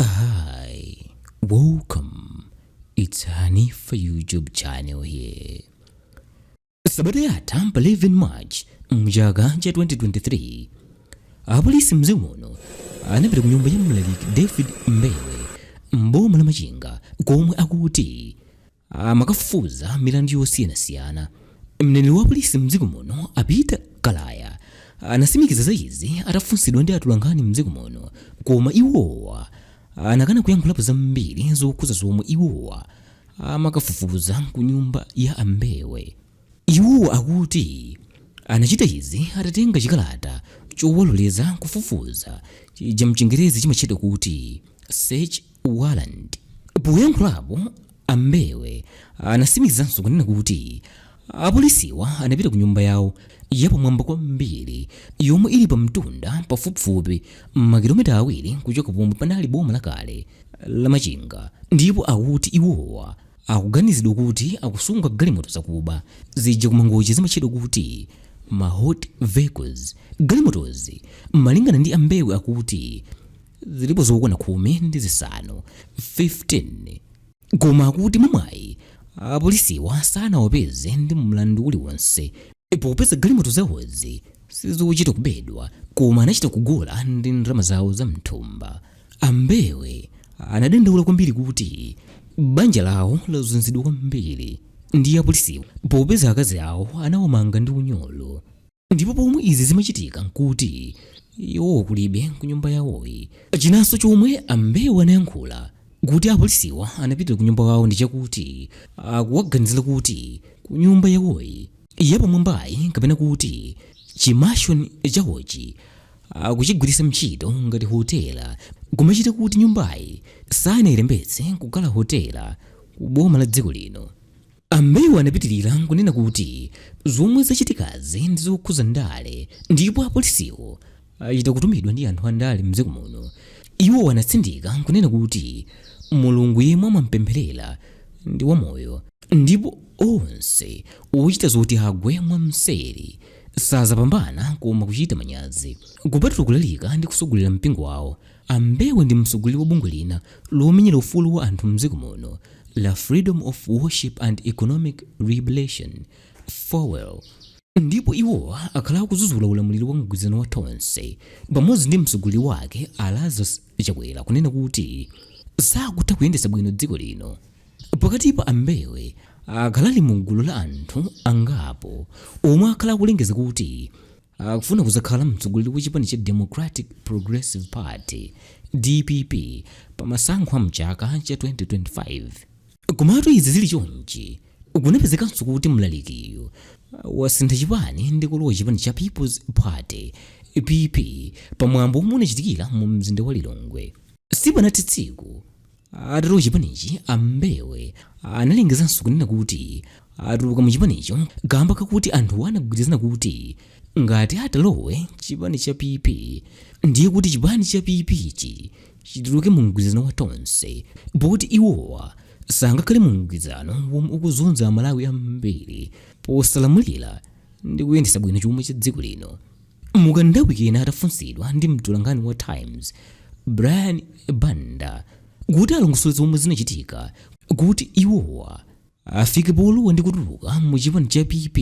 Hi, welcome. It's Hanifa YouTube channel here. Sabata yatha pa 11 March mchaka cha 2023 apolisi mdziko muno anapita ku nyumba ya mlaliki David Mbewe m'boma la Machinga komwe akuti amakafufuza milandu yosiyanasiyana. Mneneri wa polisi m'dziko muno a Peter Kalaya anasimikiza za izi atafunsidwa ndi atolankhani m'dziko muno koma iwowa anakana kuyankhulapo zambiri zokhuza zomwe iwowa amakafufuza ku nyumba ya a Mbewe. Iwowa akuti anachita izi atatenga chikalata chowaloleza kufufuza chija mchingerezi chimatchedwa kuti search warrant. Poyankhulapo, a Mbewe anasimikizanso kunena kuti apolisiwa anapita ku nyumba yawo yapamwamba kwambiri yomwe ili pa mtunda pafupifupi makilomita awiri kuchoka pomwe panali boma lakale la Machinga ndipo akuti iwowa Akuganizidwa kuti akusunga galimoto zakuba zija ku Mangochi zimatchedwa kuti ma hot vehicles. Galimotozi malingana ndi a Mbewe akuti zilipo zokwana khumi ndi zisanu, 15, koma akuti mwa mwayi apolisiwa sanawapeze ndi mlandu uliwonse popeza galimoto zawozi sizochita kubedwa koma anachita kugula ndi ndalama zawo za mthumba. A Mbewe anadandaula kwambiri kuti banja lawo lazunzidwa kwambiri ndi apolisiwa popeza akazi awo anawamanga ndi unyolo ndipo pomwe izi zimachitika nkuti iwo kulibe kunyumba yawoyi. Chinanso chomwe a Mbewe anayankhula kuti apolisiwa anapitira kunyumba yawo ndi chakuti akuwaganizira kuti kunyumba yawoyi yapamwambayi kapena kuti chimashoni chawochi akuchigwiritsa ntchito ngati hotela koma chikhala kuti nyumbayi sanayilembetse kukhala hotela ku boma la dziko lino a Mbewe anapitirira kunena kuti zomwe zachitikazi ndi zokhuza ndale ndipo apolisiwo achita kutumidwa ndi anthu andale mdziko muno iwo anatsindika kunena kuti mulungu yemwe amampempherera ndi wamoyo ndipo onse ochita zoti agwe mwamseri Sazapambana koma kuchita manyazi. Kupatula kulalika ndi kusogolera mpingo wawo, a Mbewe ndi mtsogoleri wa bungwe lina lomenyera ufulu wa anthu mdziko muno la Freedom of Worship and Economic Liberation, Fowel, ndipo iwo akhala akuzuzula ulamuliro wa mgwirizano wa Tonse pamodzi ndi mtsogoleri wake a Lazarus Chakwera kunena kuti sakutha kuyendetsa bwino dziko lino. Pakatipa a Mbewe akhala ali mu gulu la anthu angapo omwe akhala akulengeza kuti akufuna kuzakhala mtsogoleri wa chipani cha Democratic Progressive Party, DPP, pa masankho a mchaka cha 2025. Komatu izi zili chonchi, kunapezekanso kuti mlalikiyo wasintha chipani ndi kulowa chipani cha People's Party, PP, pa mwambo omwe unachitikira mu mzinda wa Lilongwe. Sipanathe tsiku, atalowa chipanichi a Mbewe analengezanso kunena kuti atuluka mu chipanicho kamba kakuti anthu anagwirizana kuti ngati atalowe chipani cha PP ndiye kuti chipani cha PP chi chituluke mu mgwirizano wa Tonse poti iwowa sangakhale mu mgwirizano womwe ukuzunza Amalawi ambiri posalamulira ndi kuyendetsa bwino chuma cha dziko lino Mukanthawi kena atafunsidwa ndi mtolankhani wa Times, Brian Banda, kuti alongosole zomwe zinachitika kuti iwowa afike polowa ndi kutuluka mu chipani cha PP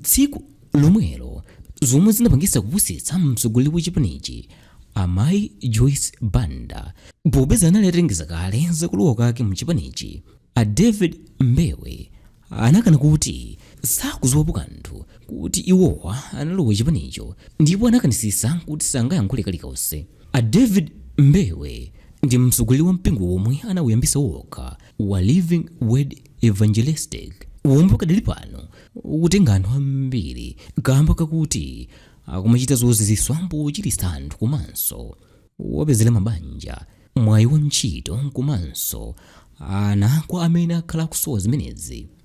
tsiku lomwelo zomwe zinapangitsa kupusitsa mtsogoleri wa chipanichi amayi Joyce Banda popeza anali atalengeza kale za kulowa kwake mu chipanichi, A David Mbewe anakana kuti sakuziwapo kanthu kuti iwowa analowa chipanicho ndipo anakanisisa kuti sangayankhule kalikonse. A David Mbewe ndi mtsogoleri wa mpingo womwe anawuyambisa wokha wa Living Word Evangelistic womwe pakadali pano ukutenga anthu ambiri kamba kakuti akumachita zoziziswa pochilitsa anthu komanso kuwapezera mabanja mwayi wa ntchito komanso ana kwa amene akhala akusowa zimenezi.